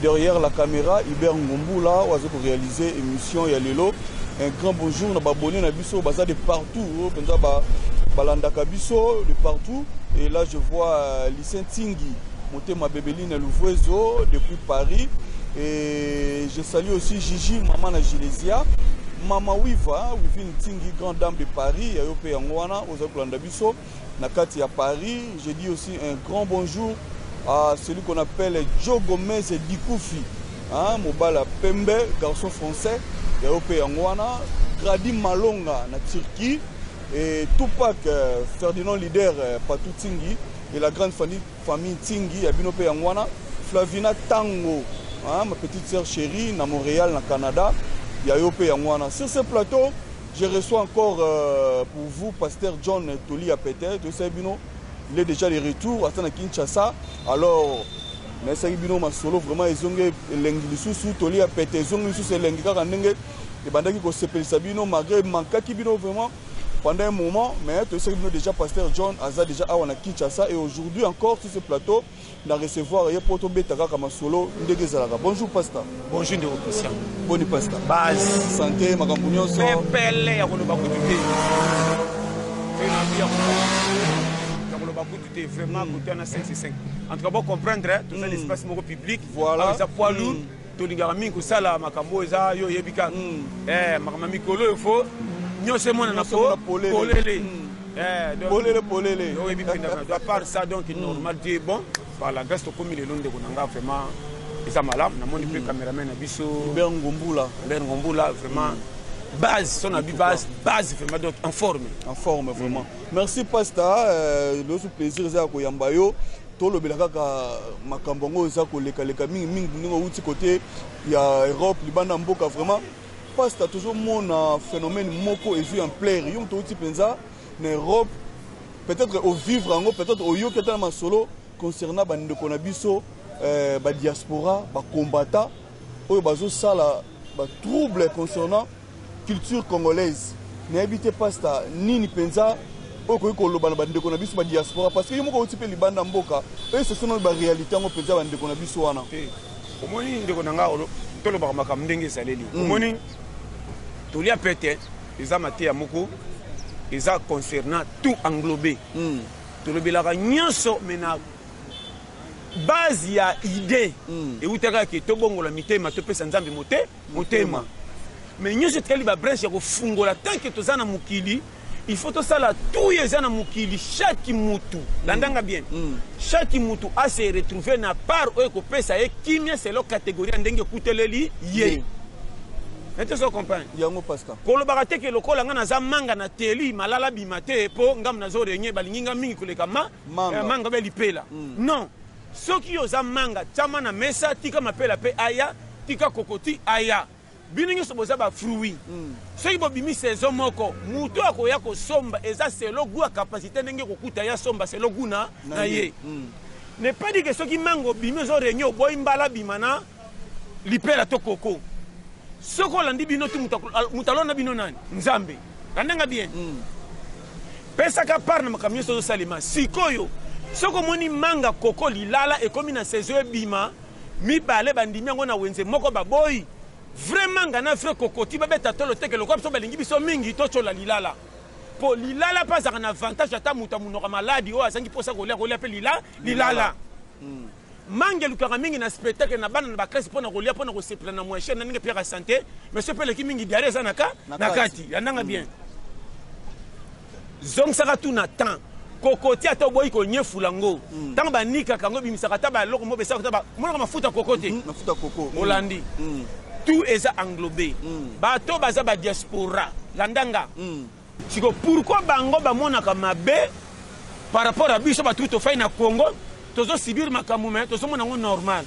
Derrière la camera Hubert Ngombula oyo azo ko realiser emission ya lelo. Un grand bonjour na ba abonnés na biso baza de partout oyo penza ba balandaka biso de partout et là je vois euh, Lycée Ntingi Motema Bebeline Louvuezo depuis Paris et je salue aussi Gigi maman na Gilesia Mama Wiva Wivine Ntingi grande dame de Paris yayo pe yango wana ozali kolanda biso na kati ya Paris. Je dis aussi un grand bonjour à celui qu'on appelle Joe Gomez et Dikoufi, hein, mobala pembe, garçon français, ya ope yanguana, Grady Malonga na Turquie, et Tupac euh, Ferdinand leader euh, Patou Tingi et la grande famille, famille Tingi ya bino pe yanguana, Flavina Tango, hein, ma petite sœur chérie na Montréal na Canada, ya yo pe yanguana. Sur ce plateau, Je reçois encore pour vous pasteur John toli ya pete toyesaki bino il est déjà de retour ata na Kinshasa alors nayesaki bino masolo vraiment ezongi elengi lisusu toli ya pete ezongi lisusu elengi kaka ndenge ebandaki kosepelisa bino malgré mankaki bino vraiment pendant un moment mais toyesaki bino déjà pasteur John aza déjà awa na Kinshasa et aujourd'hui encore sur ce plateau Na recevoir ye po tobeta kaka masolo ndenge ezalaka. Bonjour pasta. Bonjour ndeko Christian. Boni pasta. Base. Sante makambo nyonso. Pepele ya koloba kutu te. Pe na bi ya koloba kutu te vraiment kote wana 5 c'est 5. En tout cas bo comprendre toza na espace moko public. Voilà. Eza poids lourd. Tolingaka mingi kosala makambo oyo eza yo oyebi kaka mm. eh, makambo ya mikolo oyo fo mm. nyonso emonana po polele mm. eh, polele polele oyebi pendaka doit part ça donc normal dieu est bon par la grâce tokomi lelo ndeko na nga vraiment eza malamu namoni mpe cameraman na biso ber ngombula ber ngombula vraiment base son abi base base vraiment donc en forme en forme vraiment merci pasta euh, loso plaisir eza ya koyamba yo Tolobela kaka makambo yango eza koleka leka mingi mingi ndenge outi kote ya Europe libanda mboka vraiment pasta tozo mona phénomène moko ezui en plaire yo moto outi penza na Europe peut-être au vivre yango peut-être oyoki ata na masolo concernant ba ndeko na biso euh, ba diaspora ba combattants oyo bazo sala ba trouble concernant culture congolaise nayebi te pasta nini mpenza oyo okoki koloba na bandeko na biso ba diaspora parce que yo moko outi mpe libanda mboka oyesesona ba réalité yango mpenza bandeko na biso wana omoni ndeko na ngai tolobaka makambo ndenge ezaleli mm. omoni tolia pete eza mateya moko eza concernant tout englobé mm. tolobelaka nyonso mena Base ya idee ewutaka ke tobongola mitema, topesa Nzambe mote, motema. Mais nyoso etikali ba branche ya kofungola tant que toza na mokili il faut tosala tout eza na mokili chaque mutu mm. landanga bien mm. chaque mutu a se retrouver na part oyo ekopesa ye kimia selo categorie ndenge ekuteleli ye mm. nete so comprendre yango pasteur kolobaka te ke lokola ngai naza manga na teli malala bima te mpo ngambo nazo renye balingi ngai mingi koleka ma manga, eh, manga bya lipela mm. non soki yo oza manga tyama na mesa tika mapela mpe aya tika kokoti aya bino nyonso boza bafruit mm. soki bobimi saison moko moto akoya kosomba eza selo gu ya kapasité ndenge kokuta ye asomba selo gu na ye mm. ne pas dike soki manga obimi ozo réunion oboyi mbala bima na lipela to koko soki olandi bino ti moto alona bino nani nzambe landanga bien mm. pesaka part na makambo nyonso ozosalema sikoyo soki omoni manga koko lilala ekomi na saison ebima mibale bandimi yango na wenze moko baboyi vrai manga na vrai kokoti babeta tolo teke lokola biso balingi biso mingi totyola lilala mpo lilala mpe azalaka na avantage ata moto amonoka maladi oyo azangi mposa kolia kolia mpe lilala, lilala. lilala. Mm. Manga elukaka mingi na spectacle na bana na ba classe pona kolia pona kosepela na moyen cher na ndenge Pierre sante mais sope eleki mingi diarrhée eza na ka na kati ya ndanga bien zongisaka tout na temps kokoti ata oboyi konyefula ngo ntango mm. banikaka yango ebimisaka ata baeloko mo besaka ata monaka mafuta koko te mm, mafuta koko mm. olandi tout eza englobe bato baza badiaspora landanga Sikoyo pourquoi bango ba monaka mabe par rapport à biso batu tofai na Congo tozo subir makambo mais tozo mona ngo normal.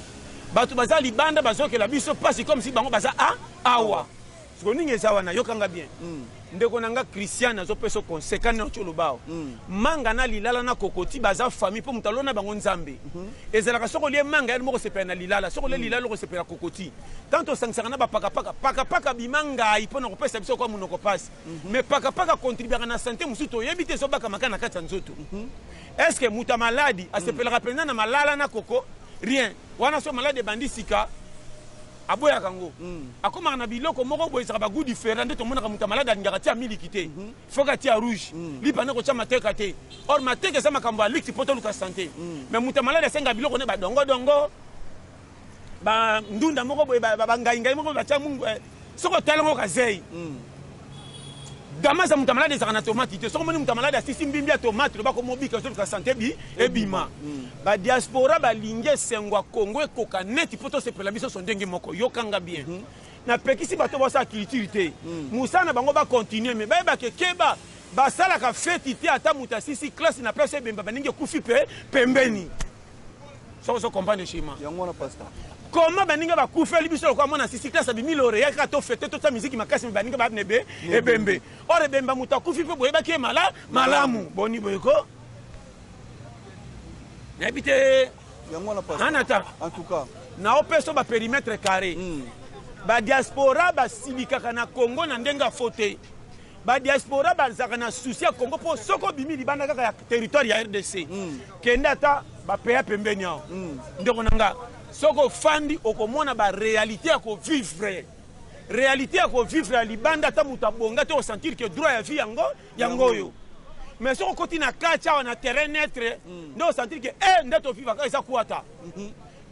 Batu baza libanda bazokela biso pasi comme si bango baza a awa. Sikoyo nini eza wana yokanga bien. Mm. ndeko na nga christian azopesa conseil kani na colobao mm. manga na lilala na kokoti baza famille mpo moto alona bango nzambe mm -hmm. ezalaka soko lie manga yani mokosepela na lilala soko lie mm. lilala okosepela kokoti tanto osangisaka na bapakapaka pakapaka bima ngai mpo na kopesa biso kwa monoko mpasi Mhm. Mais paka paka contribuaka na santé mususu toyebi te ezo baka maka na kati ya nzoto. Mhm. Est ce que muta maladi asepelaka penza na malala na koko? Rien. Wana so maladi ebandi sika aboyaka yango mm. akomaka na biloko moko boye ezalaka bagout différent nde tomonaka moto ya malade alingaka tia miliki te mm-hmm. foka atia rouge mm. lipa nde kotya mateka te or mateka eza makambo ya liki mpo toluka sante mm. mais moto ya malade asengaka biloko nde badongodongo ba ndunda moko boye ba ngai ngai moko batia mungu eh. soko tala ngo kazei mm. damaza moto malade ezalaka na tomate te soko moni moto malade asisi mbimbi ya tomate loba komobika ozoluka sante bi ebima mm. badiaspora balingi esengo ya kongo ekoka neti mpo tosepela biso so ndenge moko yokanga bien mm -hmm. napekisi bato basala culture te mm. mosala na bango bakontinue me bayebake keba basalaka feti te ata moto asisi klase na place ebemba baningi ekufi mpe pembeni soki ozo comprendre shima yango wana pasta koma baninga bakufeli biso lokola mwana sisi klase abimi lore yaka to fete tosa miziki makasi me baninga babne be ebembe or ebemba moto akufi mpe boyebaki ye mala malamu boni boyeko nayebi te yango wana pasta anata en tout cas na opeso ba perimetre carré mm. ba diaspora basilikaka na congo na ndenge ya faute Ba diaspora bazalaka na souci ya Congo po soki obimi libanda kaka ya territoire ya RDC mm. kende ata ba pays pembeni awa mm. ndeko na nga soki ofandi okomona ba réalité ya ko vivre réalité ya ko vivre ya libanda ata moto abonga te osentir que droit ya vie yango yango oyo mais soki okoti na kati awa na terrain neutre mm. nde osentir que e eh, nde tovivaka eza kuata mm -hmm.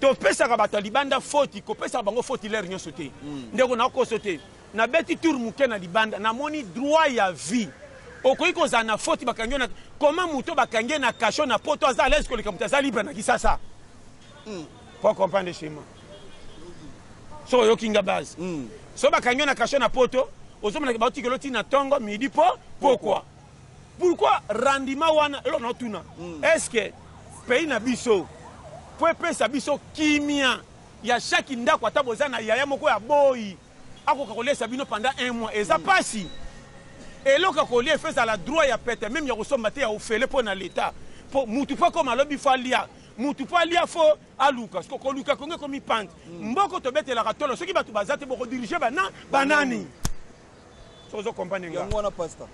topesaka bato ya libanda foti kopesaka bango foti lere nyonso te mm. ndeko nakoso te nabeti tour moke na libanda namoni droit ya vie okoki kozala na foti bakangi yo na koma moto bakangi ye na kasho na poto aza alaise koleka moto aza libre na kisasa mm. po comprendre chema so oyoki nga base mm. so bakangi yo na kasho na poto ozomonaki baotikelo ti na ntongo midi po pokwa Pourquoi rendement wana eloko na tuna mm. est-ce que pays na biso po epesa biso kimia ya chaque ndako ata boza na yaya moko ya boyi akoka kolesa bino pendant un mois eza mm. pasi eloko ya kolia efo ezala droit ya pete meme ya kosomba te ya ofele mpo na leta mpo mutu mpo akoma alobi fo alia mutu mpo alia fo aluka siko koluka kongo ekomi pante mm. mboko tobetelaka tolo soki bato baza te bokodirige bana banani ozo comprendre nga yango wana pasta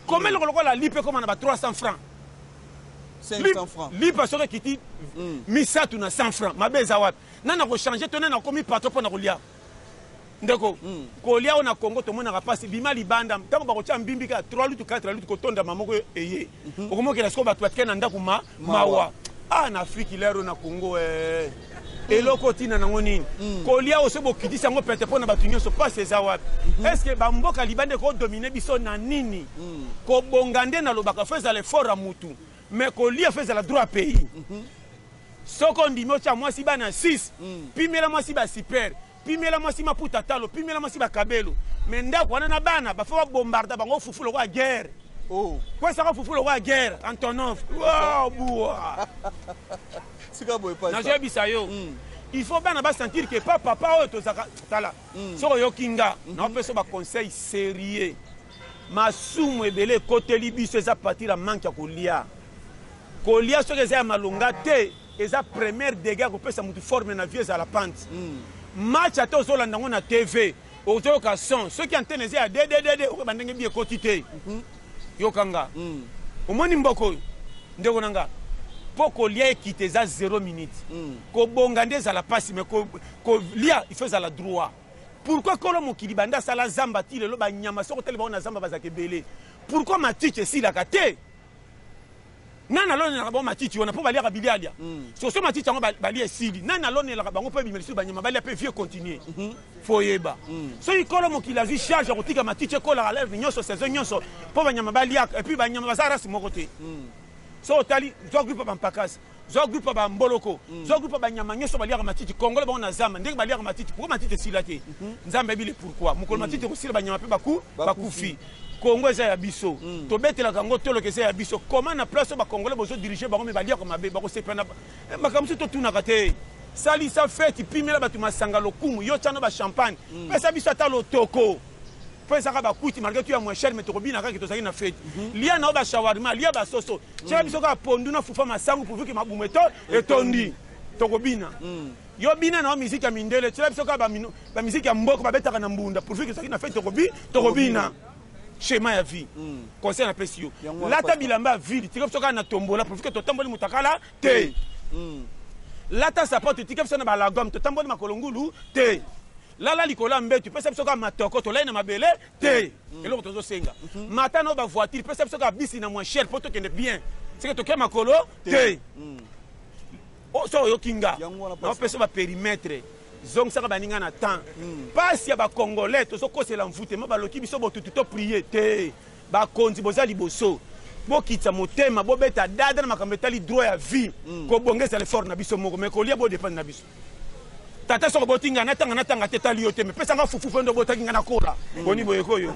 koma eloko lokola lipa ekoma na ba 300 francs 500 francs lipa soki ekiti mm. misato na 100 francs mabe eza wapi nani akochange to nani akomi patro mpo na kolia ndeko mm. kolia oyo na congo tomonaka mpasi bima libanda ntango bakotya mbimbi kaka 3 lutu 4 lutu kotondama moko eye Mhm. okomi okenda sikoyo bato batikali na ndako ma mawa ah na afriki lero na congo eh. eloko ntina nango nini mm. kolia oso bokitisi yango pete mpo na bato nyonso mpasi eza wapi mhm. estce bamboka liba nde kodomine biso na nini mm. kobonga nde nalobaka fo ezala efort ya motu mais kolia fo ezala droit ya pays mhm. soki ondimi otya mwasi bana 6 mm. pimela mwasi basiper pimela mwasi maputa talo pimela mwasi bakabelo me ndako wana na bana bafo babombarda bango fufu lokola guerre oh. kwesaka fufu lokola guerre antonov bua nazoyebisa yo hmm. il faut bana basentir ke pa papa oyo tozaka tala hmm. soki oyoki nga hmm. naopesa baconseil sérieux masumu ebele ekoteli biso eza partir ya manke ya kolia kolia soki eza ya malonga te Eza première degat ya kopesa mutu forme na vie ezala pant. Match ata ozolanda ngo na TV ozoyoka son soki antenne eza ya dededede okoyeba ndenge bi ekoti te. Yoka nga. Omoni mboka oyo ndeko na nga po kolia ekita eza zero minute. Kobonga nde ezala pasi mais kolia il faut ezala droit. Pourquoi kolo mokili banda asala zamba ti lelo ba nyama soki otali bango na zamba bazalaka ebele pourquoi matiti esilaka te? Nani alonelaka bango matiti wana po baliaka bilialia soso matiti yango balia esili nani alonelaka bango po ebima lisusu banyama balia pe vie continue foyeba soki kolo mokili azwi charge ya kotika matiti ekolaka leve nyonso saison nyonso po banyama baliaka epuis banyama baza race moko te so otali zwa groupe ya bampakasi zwa groupe ya bamboloko zwa groupe ya banyama nyonso baliaka matiti kongole bango na zamba ndenge baliaka matiti pourkoi matiti esila te nzambe ayebi le pourkoi mokolo matiti ekosila banyama pe bakufi Congo eza ya biso mm. tobetelaka yango toloka eza ya biso comment na place oyo bacongolais bozo dirige bango me baliaka mabe bakosepela na eh, makambo mosusu totunaka te salisa feti pimela bato masanga lokumu yo tyano bachampagne mm. pesa biso ata lotoko mpo ezaka bakuti malgre tu ya moins cher me tokobina kaka tozalaki na feti mm -hmm. lia na yo bashawarma lia basoso tyaka mm. biso kaka pondu na fufa masangu pourvu ke mabumu etondi tokobina mm. Yo bina na yo musique ya mindele tiela biso kaka ba musique ya mboko babetaka na mbunda pourvu que ezalaki na fete tokobi tokobina schéma ya vie hmm. conseil napesi yo lata bilamba ya ville tika biso kaka na tombola pourvu que totamboli motakala te hmm. lata sapato tika biso na balagome totamboli makolo ngulu te lala likolo ya mbetu pesa biso kaka matoko tolai na mabele te mm. eloko tozosenga mhm. mata na oyo bavoitire pesa biso kaka bisi na moin cher mpo tokende bien seke tokei makolo te mm. Oh, soki oyoki nga naopesa ba perimetre zongisaka baninga na temps mpasi hmm. ya bacongolais tozokosela mvute ma baloki biso botutu to prie te bakonzi boza liboso bokitisa motema bobeta dada na makambo etali droit ya vie hmm. kobongisa lefort na biso moko mai kolia bodepende na biso tata soko boti ngai natanga natanga te etali yo te mepesa nga fufu mpe ndo botaki ngai nakola hmm. boni boyekoyo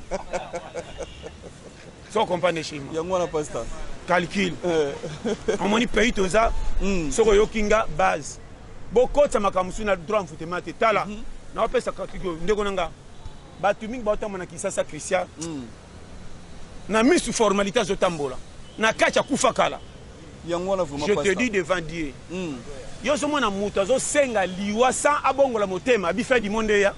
so comprendre chez moi yango wana pasta calcul eh. omoni pays toza hmm. soki oyoki nga base bokotisa makambo mosusu na droit mfutema te tala mhm. naopesa katiko ndeko na nga bato mingi baotamba na kisasa christian hmm. na misu formalité azotambola na kati akufa kala je te dis devant dieu hmm. yo ozomona moto azosenga liwa sans abongola motema abi fin du monde eya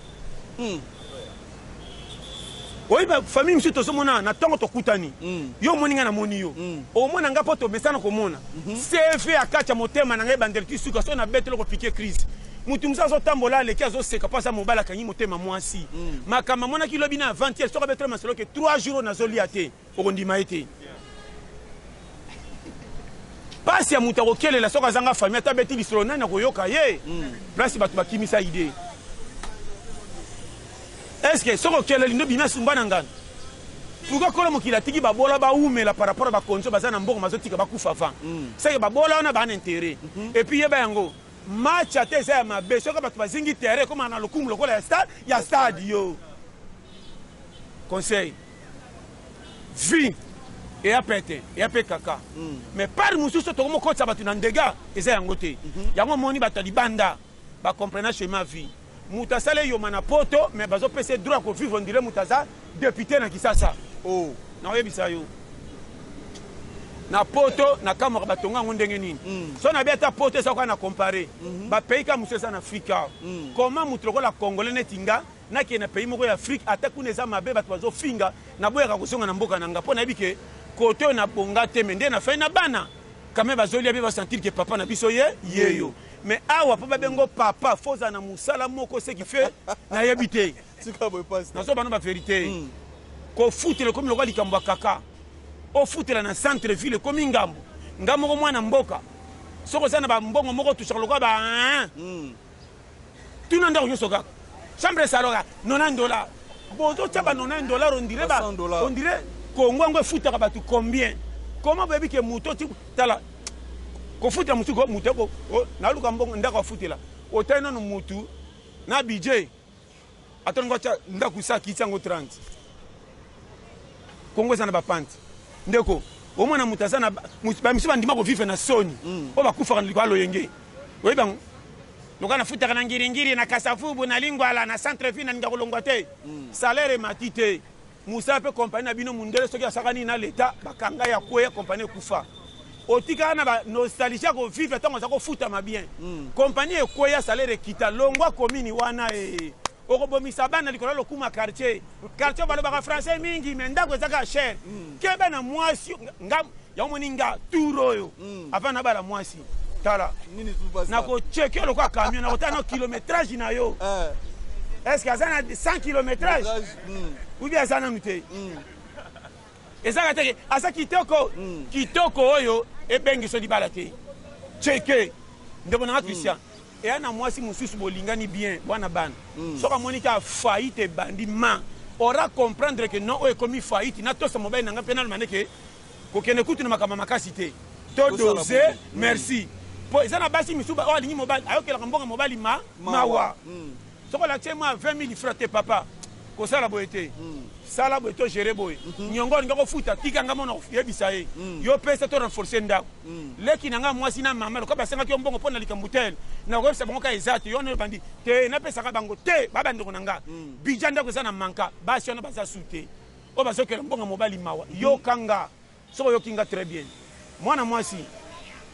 oyebi famille mosusu tozomona na ntongo tokutani mm. yo omoni ngai namoni yo mm. omona ngai mpo tomesana komona mm -hmm. cv akati ya motema na ngai ebandeli ti suka so nabeti loko pike crise motu mosusu azotambola aleki azoseka mpo aza mobali akangi motema mwasi mm. makambo amonaki lobi na avantiere soki abetela masolo ke 3 jours oyo nazolia te okondima ye te mpasi ya moto akokelela soki azanga famille ata abeti lisolo nani akoyoka ye hmm. place bato bakimisa idee estce soki okeleli nde bimi asumba na ngana pourkui kolo mokili atiki babola baumela par rapport ya bakonzi oyo baza na mbongo bazotika bakufa avant hmm. seke babola wana bana intere mhm. epuis yeba yango match ata eza ya mabe soki bato bazingi terrain ekomana na lokumu lokola ya stade yo conseil vie eya pete eya mpe kaka mm. mais part mosusu tokomi kokotisa bato na ndega eza yango te mm -hmm. yango omoni bato ya libanda bacomprena chema vie moto asala eyoma na poto mais bazopesa droit ya kovivre ondire moto aza depute na kisasa o oh. nakoyebisa yo na poto na kamwaka batonga yango ndenge nini mm. so nabi ata poto eza koka na compare mm -hmm. bapays ka mosusu eza na afrika mm. koma moto lokola congolais neti nga na ke na pays moko ya Afrique ata kuna eza mabe bato bazo finga na boyaka kozonga na mboka na nga mpo nayebi ke kote oyo na bonga te me nde na fai na bana kame bazolia mpe basentir ke papa na biso ye yeyo me awa mpo babengo papa fo ozala na mosala moko seki fe nayebi te nazo bano baverité hmm. kofutela ekomi lokola likambo ya kaka ofutela na centre ville ekomi ngambo nga moko mwana mboka soki oza na bambongo moko otusaka lokola ba hmm. Tuna ndako nyoso kaka. Chambre salon kaka 90 dollars. Bozo tia ba 90 dollars on dirait ba on dirait Congo yango efutaka bato combien? Comment boyebi ke moto oti tala kofutela motu moto naluka mbongo ndako afutela otali nano motu na budget Ata olingi watya ndako esa akiti yango 30. Congo eza na ba pante. Ndeko, omona moto aza na ba misu bandima ko vivre na soni. Mm. Oyo bakufaka na likolo ya loyenge. Oyebi bango? Lokola nafutaka na ngiringiri, na kasavubu, na lingwala, na centre ville nalinga kolongwa te. Mm. Salaire emati te. musala pe compagnie na bino mundele soki asaka nini na leta bakanga ya kweya compagnie ekufa otikala na ba nostalgie ya kovivre ntango aza kofutama bien mm. compagnie ekweya salaire ekita longwa komini wana e okobomisa bana likolo ya lokuma quartier quartier balobaka français mingi me ndako ezaka cher mm. keba na mwasi nga Ya omoni nga tour oyo mm. avant na bala mwasi tala nakocheke lokola camion nakotala no kilometrage na yo eh. est ce que aza na 100 kilometrage mm. ou bien aza nanu te mm. ezaka teke aza kitoko mm. kitoko oyo ebengiso libala te cheke ndeko nanga christian mm. eya na mwasi mosusu bolingani bien bwana bana mm. soki amoni ka faillite ebandi ma ora comprendre ke non oyo ekomi faillite natosa mobali na ngai mpe nalomane ke kokende kutu na makambo makasi te to dose mm. merci po eza na basi misusu oyo alingi mobali ayokelaka mbongo mobali ma mawa mm. soki olakisi mwa 20 000 francs te papa kosala boye te mm. sala boye to gere boye mhm. nyongo olingi kofuta tika ngai mona yebisa ye mm. yo pesa to renforce ndako mm. leki na ngai mwasi na mama lokola basengaki yo mbongo mpo na likambo tele nakoyebisa bango ka eza te yo wana ebandi te napesaka bango te babandeko na ngai mm. bidja ndako eza na manka basi wana baza su te Oyo bazo yokela mbongo mobali mawa yoka nga soki oyoki nga très bien mwana mwasi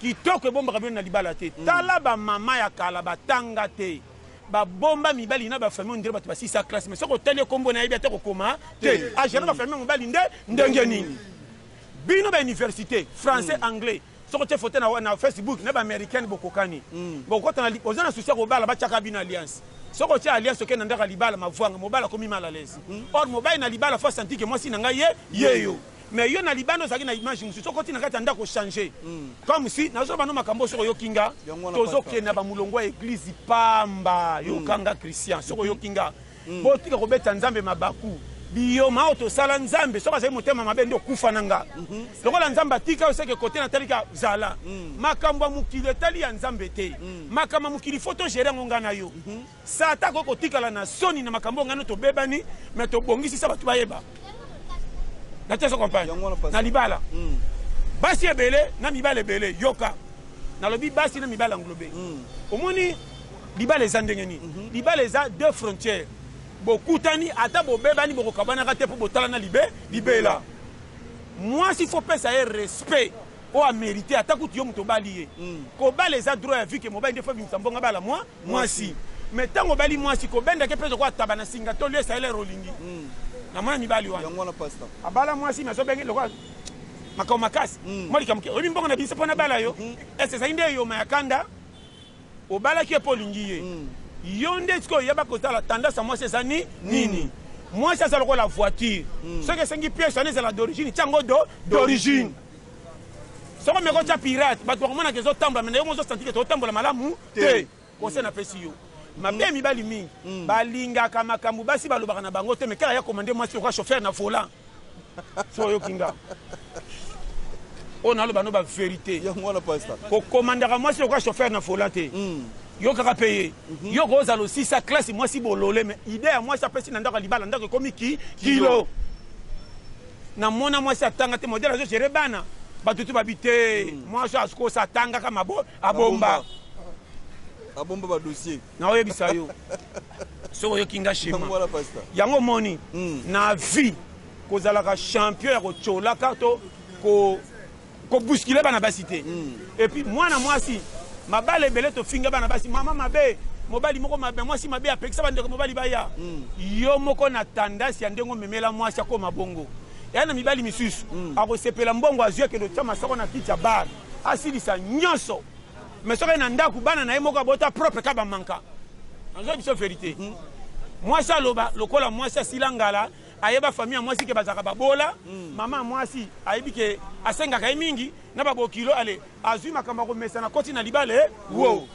kitoko ebombaka bino na libala te tala ba maman ya kala ba tanga te ba bomba mibali na ba famille ondire bato ba sisa classe mais soki otali ye kombo nayebi ata kokoma te a gere ba famille mobali nde ndenge nini bino ba universite français anglais Soki otie photo na na Facebook na ba americaine bokokani. Bokokota na oza na souci ya kobala batiaka bino alliance. Soki otie alliance okei na ndako ya libala mavuanga mobali akomi mal à l'aise. Or mobali na libala faut a sentir que mwasi na ngai ye ye yo. Mais yo na libanda ozalaki na image mosusu soki oti na kati ya ndako o changer. Comme si nazo loba no makambo oyo soki oyoki nga tozo kende na ba mulongo ya eglise pamba yoka nga Christian soki oyoki nga. Botika kobeta Nzambe mabaku. Biyoma oyo tosala Nzambe soki azali motema mabe nde okufa na nga. Mhm. Lokola Nzambe atika yo seke kote na talika zala. Mm. Makambo ya mokili etali ya Nzambe te. Mm. Makambo ya mokili faut to gérer ngo nga na yo. Mhm. Sata ko kotikala na soni na makambo ngano to bebani mais to bongisi sa batu bayeba. Na teso compagne. Na libala. Mm. Basi ebele na mibale ebele yoka. Nalobi basi na mibale englobe. Omoni Libala eza ndenge nini? Mhm. Libala eza deux frontières. Bokutani ata bobebani bokokabanaka te mpo botalana libe libela. Mwasi faut pesa ye respect oyo amerite ata kutu yo moto obali ye. Mm. Kobala eza droit ya vie ke mobali nde faut abimisa mbongo abala mwa mwasi. Mais ntango obali mwasi kobendake mpe ezokoa taba na singa to lesa elere olingi. Mm. Namona mibali wana. Yango wana pasta. Abala mwasi mais azobenge lokola makambo makasi. Mm. Mwa likambo ke oyebi mbongo na biso mpo nabala yo. Mm. Ese ezali nde eyoma ya kanda. Obalaki ye po olingi ye. Yo nde sikoyo yeba kotala tendance ya mwasi eza nini. Mwasi aza lokola voiture. Soki esengi pièce wana ezala d'origine tia yango d'origine. Soki omeki otia pirate batu bakomona ke ezo tambola mais nayo moko ozo sentir ke tozo tambola malamu te. Conseil napesi yo. Mabe ya mibali mingi balingaka makambu basi balobaka na bango te mais kaka ya commande mwasi lokola chauffeur na volant. so oyoki nga oyo naloba no baverité kokomandaka mwasi lokola chauffeur na fola te hmm. yo kaka mpe ye mhm. yo kozala osisa klase mwasi bolole me ide ya mwasi apesi na ndako ya libala ndako ekomi ki kilo namona mwasi atanga te modele azogere bana bato te babi te hmm. mwasi akosa atangaka mabo abomba abomba ba dossier na oyebisa yo soki oyoki nga shema yango omoni hmm. na vie kozalaka champion ya kocolaka to kobuskile ko bana basi te hmm. epuis mwana mwasi mabala ebele tofinga bana basi mama mabe mobali moko mabe mwasi mabe apekisa bandeko mobali baya hmm. yo moko na tandasi ya ndenge omemela mwasi akoma bongo ya na mibali misusu akosepela mbongo azwi akende otya masako na kiti ya bare asilisa nyonso mais soki na ndako bana na ye moko abota propre ka bamanka nazoya biso verité hmm. mwasi aloba lokola mwasi asila ngala ayeba famille ya mwasi ke bazalaka babola hmm. mama ya mwasi ayebi ke asengaka ye mingi na babokilo ale azwi makambo ya komesana koti na libale eh? wo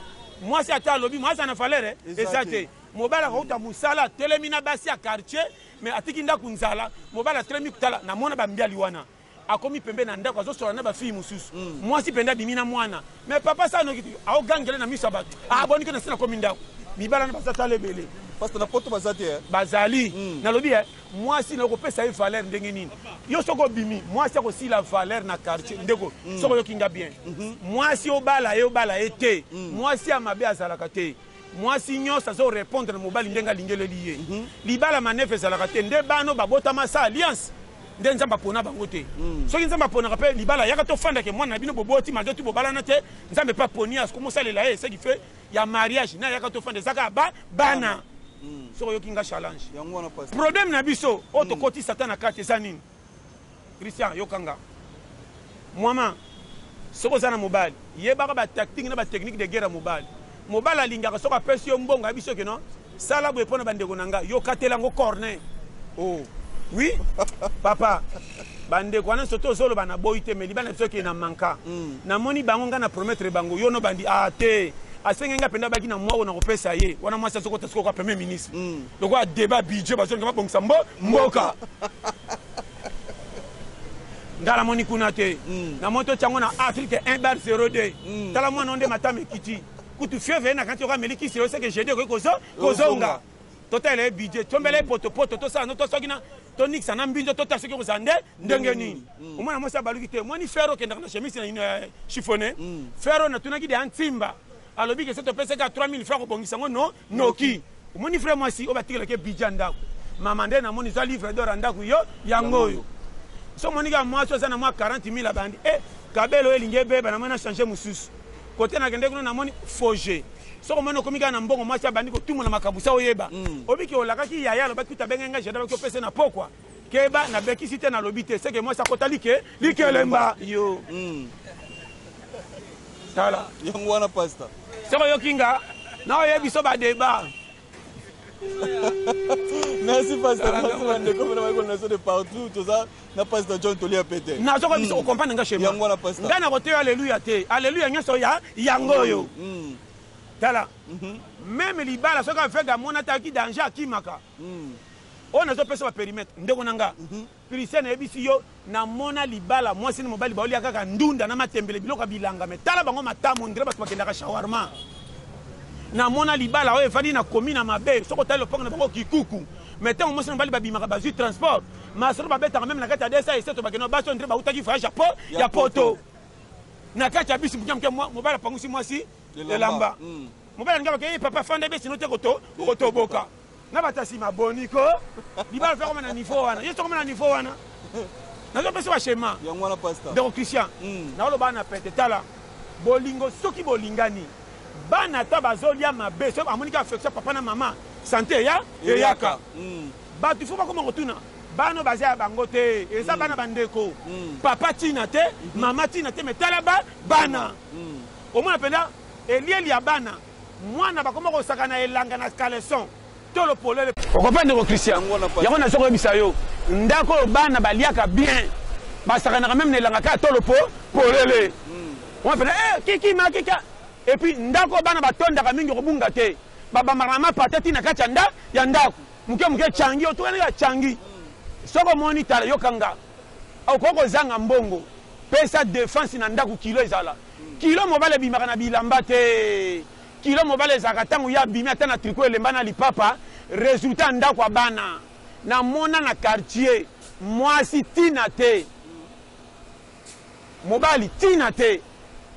mwasi ata alobi mwasi ana valere eza te mobali akouta mosala atelemi na basi ya quartier mais atiki ndako nzala mobali atelemi kotala namona bambiali wana akomi pembeni na ndako azosola na bafille mosusu mwasi mpenza abimi na mwana me papa sa noki te aogangele na miso ya bato aboni ke na sila komi ndako mibala na baza tala ebele parce na poto baza te eh. bazali mm. nalobi eh, mwasi na okopesa ye valeur ndenge nini yo soki obimi mwasi akosila valeur na quartier ndeko mm. soki oyoki nga bien mm -hmm. mwasi obala ye obala ye te mm. mwasi ya mabe azalaka te mwasi nyonso azorepondre na mobali ndenge alingeleli ye mm -hmm. libala manefe ezalaka te nde bano babotama sa alliance nde nzambe apona bango te mm. soki nzambe aponaka mpe libala yaka tofandake mwana na bino boboti malgre tu bobalana te nzambe mpe aponi ya komosalela ye seki fe ya mariage na yaka tofanda ezaka ya ba bana mm. soki oyoki nga challenge problème na biso oyo mm. tokoti satan na kati eza nini christian yokanga Muama soki oza na mobali yebaka ba tactique na ba technique de guerre ya mobali. Mobali alingaka soki apesi yo mbongo ayebi soki no sala boye pona ba ndeko na nga yo katela yango corne oh oui papa ba ndeko wana soto ozoloba na boyi te mais libala biso ke na manka mm. na moni bango nga na promettre bango yo no bandi ah te asenge nga penda baki na mwa ona kopesa ye wana mwasi azokota sikoka premier ministre mm. lokola deba budget bazonga babongisa mbo mboka nga namoni kuna te mm. namoni totya yango na afrique 1 bar 02 mm. tala mwana onde matama ekiti kutu fieve ye na kanti okameli kisi yo seke jede okoki kozonga totalela ye budget tombela ye potopoto tosala no tosoki na tonikisa na mbinzo totala soki okozala nde ndenge nini mm. omwana mwasi abaluki te omoni fere okendaka na chemise na chifone fere natunaki de antimba Alobi que soki topesi ye kaka 3000 francs akobongisa yango no noki. Omoni frère mwasi oyo batikelaki ye budget ya ndako. Mama nde namoni zwa livre d'or ya ndako yo yango oyo. Soki omoni kaka mwasi oyo aza na mwa 40000 abandi eh cabelo oyo elingi ebeba namoni na changer mosusu. Cote nakendeki kuna namoni faux jeu. Soki omoni okomi kaka na mbongo mwasi abandi kotumola makambo sa oyeba. Oyebi que olakaki yaya alobaki kutu abengaki ngai Jada alobi opesa ye na pokwa. Keba na bekisi te na lobi te seke mwasi akota like likelemba yo mm. tala yango wana pasta soko yoki nga na oyebi so ba debat merci pasteur merci bandeko bana bayekola na biso de partout toza na pasteur john tolia pete nazokoya biso kocomprendre nga chema yango wana pasteur ngai nakoteya aleluya te aleluya nyonso ya yango oyo tala meme libala soki aveugle amona ataki danger akimaka Oyo nazo pesa ba perimetre ndeko na nga Christian na yebisi yo na mona libala mwasi na mobali bao lia kaka ndunda na matembele biloko ya bilanga mais tala bango matamo on dirait batu bakendaka shawarma na mona libala oyo evandi na komi na mabe soko tali lopango na bango kikuku mais tango mwasi na mobali babimaka bazui transport masolo babetaka meme na kati ya desa eseto bakenda basi on dirait bautaki voyage ya po ya poto na kati ya bisi moke moke mobali apangusi mwasi elamba mobali alinga bakei papa fanda besi no te koto okotoboka na bato ya nsima boni ko libala mpe akoma na niveau wana yesu akoma na niveau wana nazopesa bashema yango wana pasta ndeko christian mm. naoloba na pete tala bolingo soki bolingani bana ata bazolya mabe soki amoniki affection papa na mama sante eya eyaka mm. bato fo bakoma kotuna bana baza ya bango te eza mm. bana bandeko mm. papa ntina te mm -hmm. mama ntina te me tala ba bana mm. omona mpenza elieli ya bana Mwana bakoma kosaka na elanga na caleçon tolo polele. Okopa ndeko Christian. Yango nazo koyebisa yo ndako oyo bana baliaka bien basakanaka meme na elanga kaka tolo po polele. Mwa pena eh kiki ma kika et puis ndako bana batondaka mingi kobunga te babambaka na mapata ti na kati ya nda ya ndako moke moke changi otukani ya changi soko omoni tala yokanga okoki kozanga mbongo pesa defense na ndako kilo ezala Kilo mobali abimaka na bilamba te kilo mobali ezalaka tango ye abimi ata na tricot elemba na lipapa resultat ya ndako ya bana na mona na quartier muasi tina te mobali tina te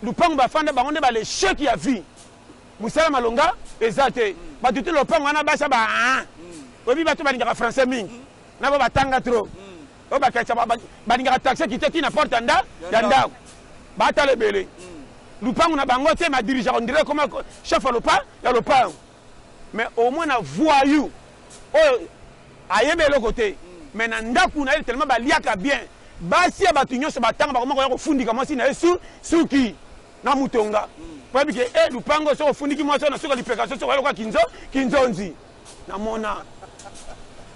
lupangu bafanda bango nde ba le chec ya vie musala malonga eza te batu te lopango wana basa ba oyebi batu balingaka français mingi na ba batanga trop oyo bakatisa balingaka taxe kite ti na porte ya nda ya ndako batala ebele lupangu na bango te ma dirigea ondire koma chef ya lopa ya lopangu mais au moins na voyou oyo ayebi eloko te mais na ndako na ye tellement baliaka bien basi ya bato nyonso batanga bakoma koya kofundika mwasi na ye suki na mutonga po yebi ke e lupango soki ofundiki mwasi oyo na suka lipeka so soki oyoka kinzonzi Na mona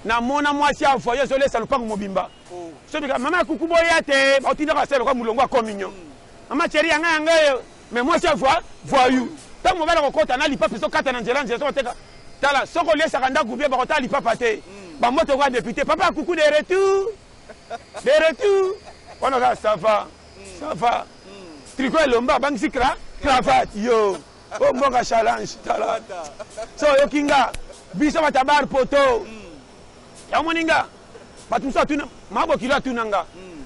Na mona mwasi ya voyage zo lesa lupangu mobimba oh. so bika mama ya kuku boya te ba tinda ka selo ka mulongo ya communion mm. mama chérie yanga yanga yo mais mwasi ya voix voyou tango mobala ko kota na lipape so kata na nzela nzela so teka tala soko lesa ka ndaku bien ba ko tala lipapa te mm. ba moto ko député papa kuku de retour de retour wana ka ça va mm. ça va tricot elomba bangisi cra cravate yo o mbonga challenge tala so oyoki nga biso batabar poto yango moni nga bato mosusu atuna mabokilo atuna nga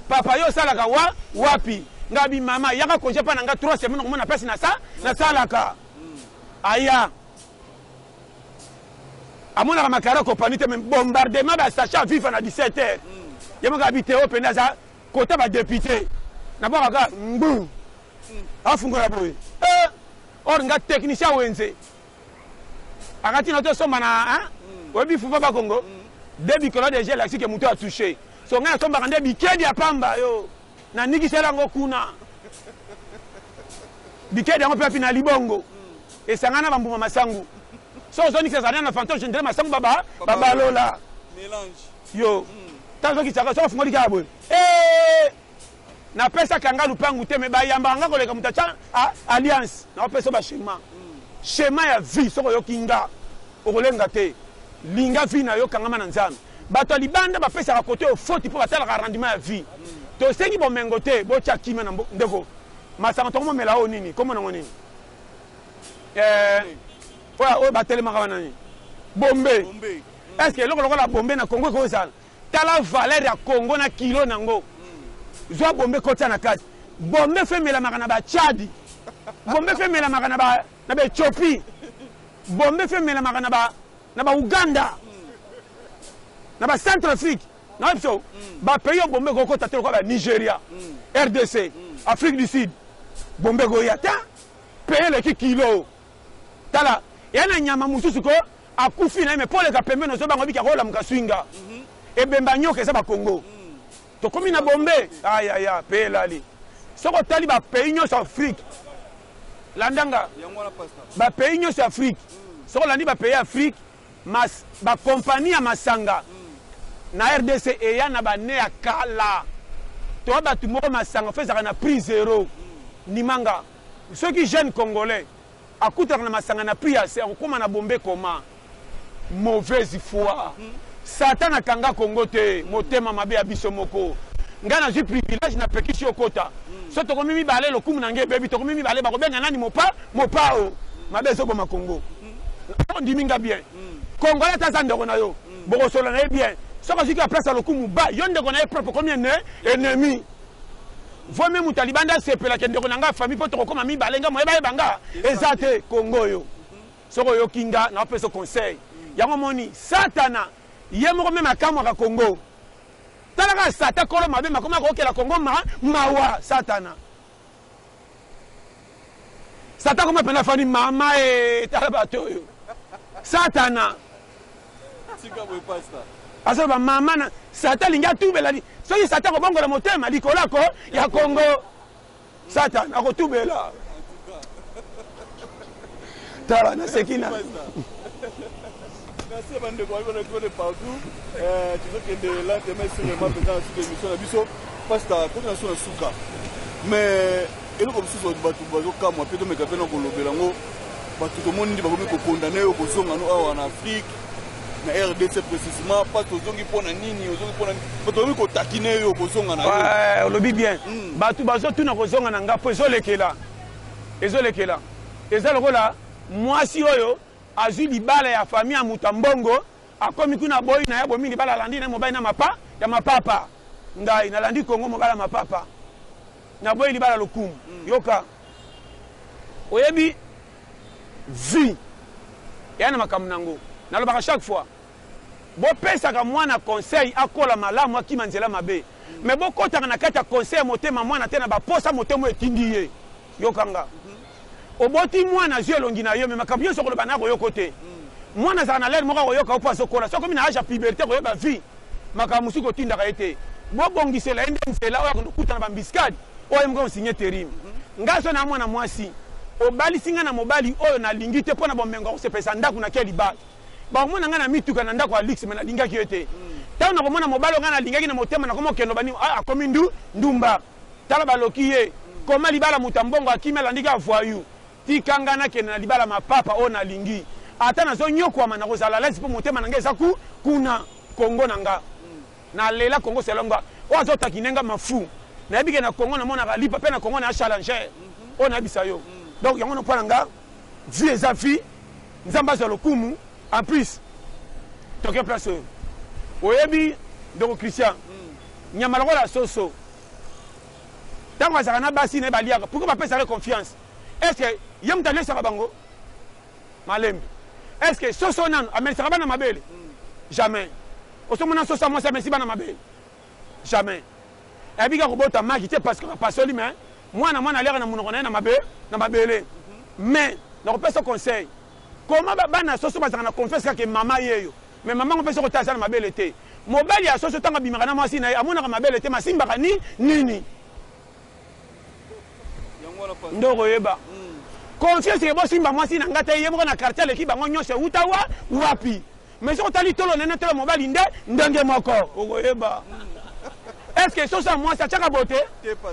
papa yo osalaka wa wapi nga bi mama yaka konje mpa na nga trois semaine okomona place na sa nasalaka aya amonaka makara kopani te me bombardement basacha viva na 17 heures ye moko abi te oyo mpenza aza kota badepute nabwakaka mbu afungola boye eh, or nga technicien wenze akati na tosomba na hmm. oyebi fufa bakongo hmm. de bikolo deja elakisi ke moto atouche so ngai nasombaka nde bikedi ya pamba yo nanikisela yango kuna bikedi yango mpe api na libongo hmm. esangana na bambuma masangu so ozonikisa zana na fantoche ndele masangu baba babalola yo ntango ozokisaka soki ofungoli kaka boye eh! Na pesa ka nga lupangu te mais ba yambaka nga koleka moto atia alliance. Na pesa ba schéma. Schéma ya vie soko yoki nga okolenga te. Linga vie na yo kangama na Nzambe. Bato ya libanda ba pesaka kote yo foti po ba talaka rendement ya vie. To sengi bomengo te bo tia kimia na mbo ndeko. Masanga toko momela oyo nini? Kombo nango nini? Eh oyo ba telemaka wana nini? Bombe. Est ce que eloko lokola bombe na Congo eko zala? Tala valeur ya Congo na kilo na ngo. Zwa bombe kotia na kati. Bombe fo emelamaka na ba Tchad. Bombe fo emelamaka na ba na ba Ethiopie. Bombe fo emelamaka na ba na ba Ouganda. Na ba Centrafrique. Na ba biso ba pays oyo bombe kokota te lokola ba Nigeria, RDC, Afrique du Sud. Bombe koya te. Pays eleki kilo. Tala ya na nyama mususu ko akufi naye mais poleka pembeni ozo banga obiki akolamuka sui nga ebembe ya nyoka eza ba kongo tokomi na bombe ayaya pe elali soki otali ba pays nyoso ya afrique landa nga ba pays nyoso ya afrique soki olandi ba pays ya afrique mas ba compagnie ya masanga na rdc eya na ba ne ya kala toa batu moko masanga fo ezalaka na prix zero nimanga Soki jeune congolais akutaka na masanga na PAC akokoma na bombe comment? Mauvaise foi. Satan akanga Congo te, motema mabe ya biso moko. Ngai nazui privilege na pekisi yo okota. Soki tokomi mibale lokumu na ngai ebebi, tokomi mibale bakobenga nani mopa, mopao. Mabe ezo boma Congo. Ondimi ngai bien. Congolais ata aza ndeko na yo, bokosolola na ye bien. Soki azui ki apesa lokumu ba yo ndeko na ye propre okomi ennemi. Vaut mieux mutu ya libanda asepela que ndeko na nga ya famille po tokokoma mibale nga moyen bayeba nga eza te Congo oyo soki oyoki nga na opesa conseil yango omoni satana ye moko meme akamwaka Congo tala kaka satan kolo mabe makoma kokela Congo ma mawa satana Satan akoma pena fani mama ee tala bato oyo satana aza ba mama na satan alingi atubela soki satan akobongola motema likolo ako ya kongo satan akotubela tala naseki na merci bandeko bayebi na kode partout eh, tozokende lantema esengelema mpenza na suka émission na biso pasta koti na so na suka mais eloko mosusu bato bazokamwa mpe tomeka mpe na kolobela yango bato tomoni nde bakomi kokondane yo kozonga no awa na afrique na rdc précisement parce ozongi mpo na nini ozongi mpo na nini bato bakomi kotakine yo kozonga na yo olobi bien hmm. bato bazotuna kozonga na nga mpo ezolekela ezo lekela eza lokola muasi oyo azui libala ya famille ya mutu ya mbongo akomi kuna aboyi naye abomi libala alandi naye mobali na mapa ya mapapa ngai nalandi congo mobali ya mapapa naboyi libala lokumu mm. yoka oyebi vie eya na makambo nango nalobaka chaque fois Bo pesaka mwana conseil akola malamu akima nzela mabe mais bo kotaka na kati ya conseil ya motema mwana te na ba posa motema oyo etindi ye. Yoka nga. Oboti mwana azui elongi na yo mais makambo nionso okoloba naye akoyoka yo te. Mwana azalaka na l'heure moko akoyoka yo po azo kola. Soki akomi na age ya puberite akoyeba vie makambo mosusu kotindaka ye te. Bo bongisela ye nde nzela oyo akende kokutana ba embuscade oyo ye moko ako signe terim. Nga azo na mwana mwasi. Obalisi nga na mobali oyo na lingi te po na bomengo ya kosepelisa ndaku na ke libala. Bakomona ngai na mituka, na ndako ya luxe, mais nalingaki ye te. Tango nakomona mobali oyo ngai nalingaki na motema, nakomi kokende loba nini? Ah, akomi ndu, ndumba. Tala baloki ye. Koma libala moto ya mbongo akimi, alandi kaka voyou. Tika ngai nakende na libala ma papa oyo nalingi. Ata nazo nyokwama, nakozala à l'aise po motema na ngai eza ku, kuna. Congo na nga. Nalela Congo selon nga. Oyo azo taquiner nga m'en fous. Nayebi ke na Congo namonaka Lipa pe na Congo naya challenger. Oyo nayebisa yo. Donc yango wana po na nga. Vie eza vie nzambe azwa lokumu en plus toke place oyo oyebi ndeko Christian nyama lokola soso ntango azalaka na basi na ye baliaka pourkoi bapesaka ye confiance est ce que ye moto alesaka bango malembe est ce que soso nano amelisaka bana mabele jamais osomona soso ya mwasi amesi bana mabele jamais ebi ka kobota maki te parce que pasoli mais mwana mwana aliaka na munoko na ye na mabe na mabele mais na kopesa conseil koma bana soso bazanga na confiance kaka mama yeyo mais mama ngo pesa kota aza na mabele te mobali ya soso tanga bimaka na mwasi na ye amonaka mabele te masimbaka ni nini nde okoyeba conscience ke bosimba mwasi na nga te ye moko na quartier aleki bango nyonso ewuta wa wapi mais soki otali tolo nene tolo mobali nde ndenge moko okoyeba est ce que soso ya mwasi atiaka bote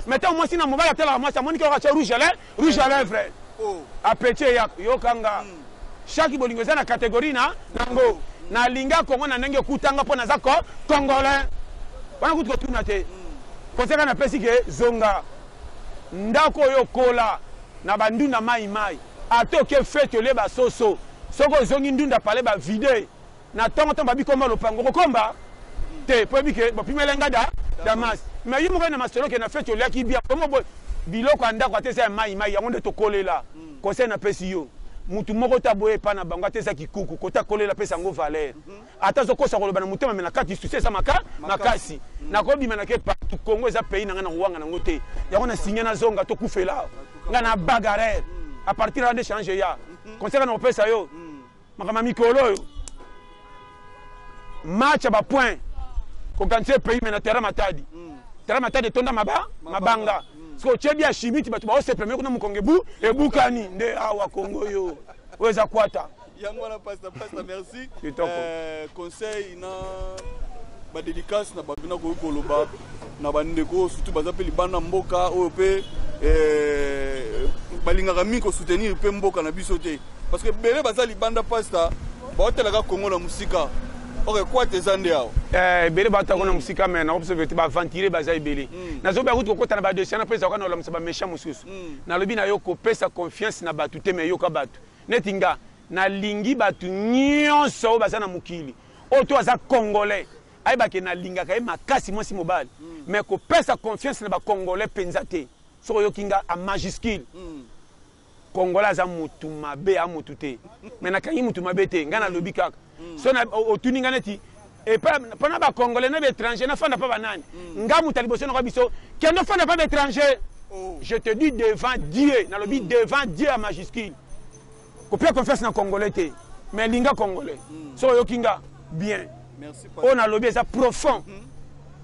mais ntango mwasi na mobali atalaka mwasi amoniki oyo atya rouge à lèvre rouge à lèvre oh. apeti eyaka yokanga mm. Chaque bolingo eza na categorie na nango. Na linga Congo na ndenge okutanga po naza ko congolais. Wana kutu kotuna te. Koseka na pesi ke zonga ndako oyo kola na ba ndunda mai mai. Ata oke fete olie ba soso soki ozongi ndunda palais ba vide. Na tongo tongo babi komba lopango okokomba te po oyebi ke bopimela nga da damas mais yo moko na masolo ke na feti oliaki bia kombo bo biloko ya ndako ata eza ya mayi mayi yango nde tokolela conseil na pesi yo mutu moko te aboya epa na bango ata eza kikuku kote akolela pesa yango valeur ata azo kosa koloba na motema mais na kati souci eza maka makasi nako bima na ke partout Congo eza pays na nga na kowanga na ngo te yango na signe na zonga to kufela nga na bagarer a partir ya nde change ya conseil na kopesa yo makambo ya mikolo oyo match ya bapoint kokanisa ye pays me na terrain matadi mm. terrain matadi etonda maba mabanga mm. soki otye bia chimiti bato baosepela meko na mokongo ebu ebukani nde awa kongo yo oyo eza kwata yango wana pasta pasta merci euh, conseil na badelikasi na bato nakoki koloba na bandeko oyo surtout baza mpe libanda mboka oyo mpe eh, balingaka mingi kosoutenir mpe mboka na biso te parce que ebele baza libanda pasta baotalaka kongo na mosika ok kwate eza nde awa eh, ebele bato yango na mosika me naobserve te baaventurier baza ebele hmm. nazobi akuti kokota na badesiana mpe ezalaka na olamisa baméchant mosusu hmm. nalobi na yo kopesa confiance na bato te me yoka bato Neti nga na lingi batu nionso oyo baza na mokili oyo to aza congolais ayeba ke na lingaka ye makasi mwasi mobali mais ko pesa confiance na ba congolais penza te soki oyoki nga a majuscule congolais aza mutu mabe a mutu te mais na kangi mutu mabe te nga na lobi kaka so na otuni nga neti epa mpona bacongolais na baétranger nafanda mpa banani mm. nga moto ya liboso nako biso kende ofanda mpa baétranger oh. je te dis devant dieu nalobi mm. devant dieu ya majuscule kopia confiance na congolais te mais linga congolais mm. soki oyoki nga bien oyo nalobi eza profond mm.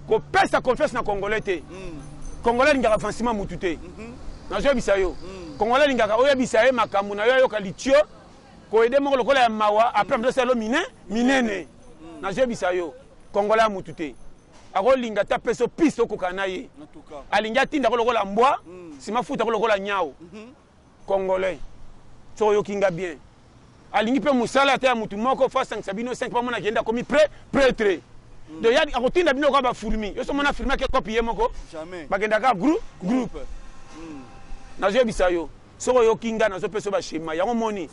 kopesa confiance na congolais te mm. congolais alingaka avancement mutu te mm -hmm. nazoyebisa yo mm. congolais alingaka oyebisa ye makambo na yo ayoka litio Ko aider moko lokola ya mawa après na mizosala yo mine minene. Nazoyebisa yo Congolais ya mutu te. Akolinga ata pesa yo piste okokana na ye. Alingi atinda ko lokola mbwa, sima afuta ko lokola nyau. Congolais soki oyoki nga bien alingi mpe mosala ata ya motu moko fo asangisa bino 5 mpo amona kende akomi pre pretre mm. donc ya akotinda bino kaka bafurmi yo so mona firmi ake kopi ye moko bakendaka groupe groupe mm. nazoyebisa yo Soki oyoki nga nazo pesa yo ba schema yango omoni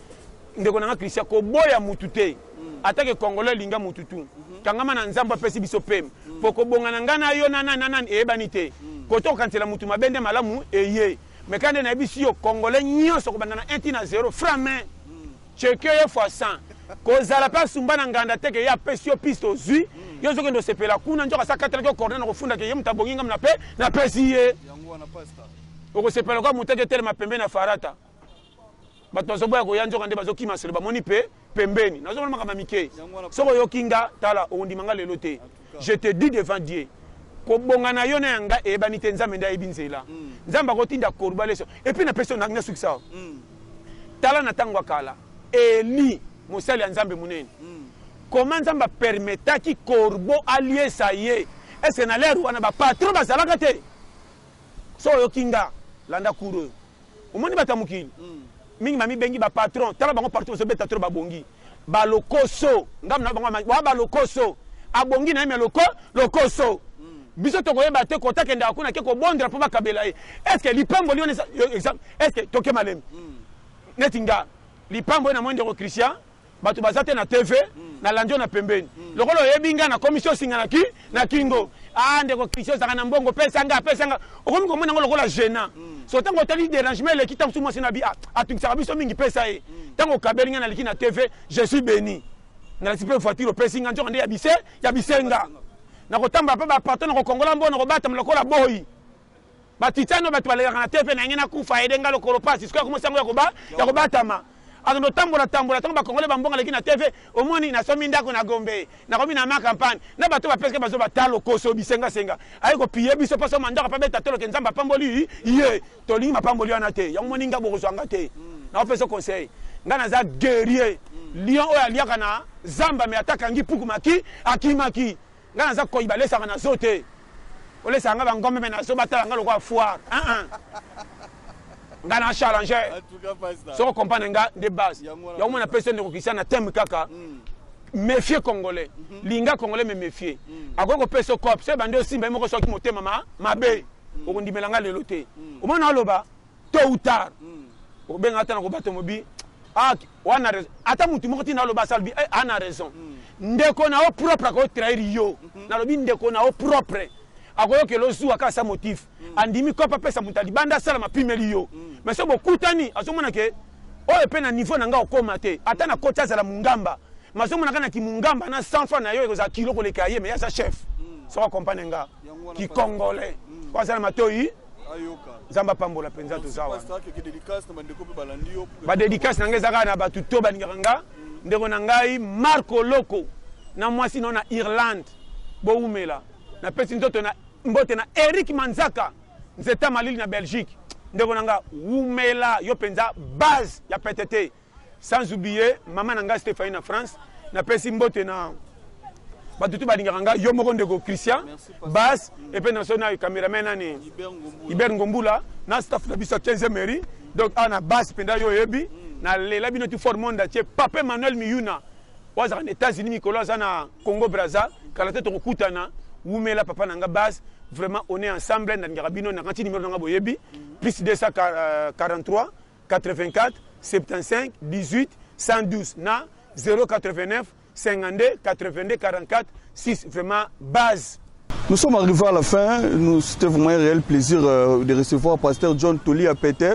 ndeko nanga Christian koboya mutu te ata ke congolais alinga mutu tu kangama na nzambe apesi biso pem po kobonga na nga na yo na nani na nani eyebani te koto okanisela mutu mabe nde malamu eye me kande nayebisi yo congolais nyonso kobanda na 1 ti na 0 fra main cheke ye fois 100 kozala mpe asumba na nganda te ke ye apesi yo piste ozwi yo ozokende osepela kuna nzoka sa katelaki yo corne na kofundaka ye moto abongi ngamna mpe napesi ye Okosepela lokola muteke etelema pembeni ya farata. Bato bazoboya koya nzoka nde bazokima selo bamoni pe pembeni. Nazomona makambo ya mike. Soki oyoki nga tala okondima nga lelo te. Je te dis devant Dieu kobonga na yo na ya nga eyebani te Nzambe nde ayebi nzela. Hmm. Nzambe akotinda koruba leso. Epuis napesi yo nasukisa yo. Hmm. Tala na tango ya kala Eli mosali ya Nzambe monene. Hmm. Comment Nzambe apermetaki korbo aliesa ye? Est-ce que na lere wana ba patron bazalaka te? Soki oyoki nga, landa cours oyo. Omoni bato ya mokili, mingi ba mibengi ba patrons, tala bango partout bazo beta trop ba bongi. Ba lokoso, ngambo na bango ba ba lokoso. Abongi na ye mais loko, lokoso. Biso toko yeba te kota kendaka kuna ake ko bondela po ba kabela ye. Est ce que lipamboli wana eza, est ce que toke malembe? Neti nga, lipamboli na moni ndeko Christian, Batu baza te na TV na landi yo na pembeni lokola oyebi nga na komisi yo singa na ki na kingo ah ndeko Christian ozaka na mbongo pesa nga pesa nga okomi komona ngo lokola gênant so tango otali derangement eleki tango su mwasi na bi ah, atungisaka biso mingi pesa ye tango okabeli nga naliki na TV je suis béni nalati mpe voiture opesi nga nzoka nde ya bise ya bisenga nakotambola mpe baparto nakokongola mbo nakobatama lokola boyi Ba Titan oyo batu balelaka na TV na yange na kufa aide nga lokolo pasi sikoyo akomi sango ya koba ya kobatama akendo tambola tambola tango ba congolais ba mbonga leki na TV omoni na somi ndako na Gombe na komi na ma campagne na bato ba peseke bazo bata lokoso bisenga senga aye ko piller biso poso mandaka pa beta tolo ke nzambe apamboli ye tolingi mapamboli wana te yango moni nga bokozwa nga te na opesa conseil nga naza guerrier lion oyo aliaka na zamba me atakangi puku maki akimaki Nga naza koi balesaka na zoo te olesaka nga ba ngombe mais na zoo batala nga lokola foire ah ah nga na challenge soko comprendre nga nde base yango mona pesi ndeko Christian na thème kaka mm. méfier congolais mm-hmm. linga congolais me méfier mm. akoki kopesa yo cop so ebandi osimba ye moko soki motema mabe mm. okondimela nga lelo te omona aloba tot ou tard okobenga ata na kobato mobi ah, wana raison ata mutu moko tina aloba asalobi eh, ana raison ndeko na yo propre akoyo trahir yo mhm. nalobi ndeko na yo propre akoyokela ozuwa kaka sa motif mhm. andimi kope apesa moto alibanda asala mapimeli yo mhm. mais so bokutani azomona ke oyo mpe na niveau na ngai okoma te ata na koti azala mungamba mazomona kaka na kimungamba na 100 franc na yo ekozala kilo koleka ye mais aza chef soko akompagne nga kikongole oyo azala matoyi nzambe apambola mpenza toza wana badedikase na ngai eza kaka na bato to balingaka nga ndeko na ngai marco loko na mwasi nao na irlande bowumela napesi nzoto na mbote na eric manzaka nzeta malili na belgique ndeko na nga wumela yo mpenza base ya pete te Sans oublier maman na nga Stephanie na France na pesi mbote na bato tout balingaka nga yo moko ndeko Christian Bas et puis na so na cameraman nani Hubert Ngombula na staff na biso 15e mairie donc a na Bas penda yo yebi mm. na lela bino tout fort monde entier Papa Manuel Miyuna wazaka na États-Unis mikolo aza na Congo Brazza kala te tokokutana wumela papa na nga Bas vraiment on est ensemble na ngaka bino na kanti numéro na nga boyebi mm. plus 243 84 75 18 112 na 089 52 82 44 6 vraiment base Nous sommes arrivés à la fin. Nous, c'était vraiment un réel plaisir euh, de recevoir Pasteur John Toli à Pété.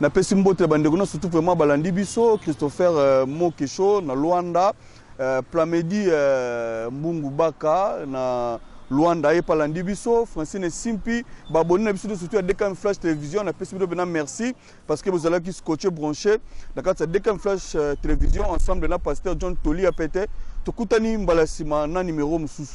Na pesi mbote bandekuna surtout vraiment balandi biso Christopher euh, Mokesho na Luanda, euh, Plamedi euh, Mbungu Baka na Luanda et palandi biso Francine Simpi baboni na biso surtout ya DKM Flash Télévision na pesi biso bena merci. parce que bozalaki scotche branche na kati ya dkm flash euh, télévision ensemble na pasteur john toli ya pete tokutani mbala ya nsima na nimero mosusu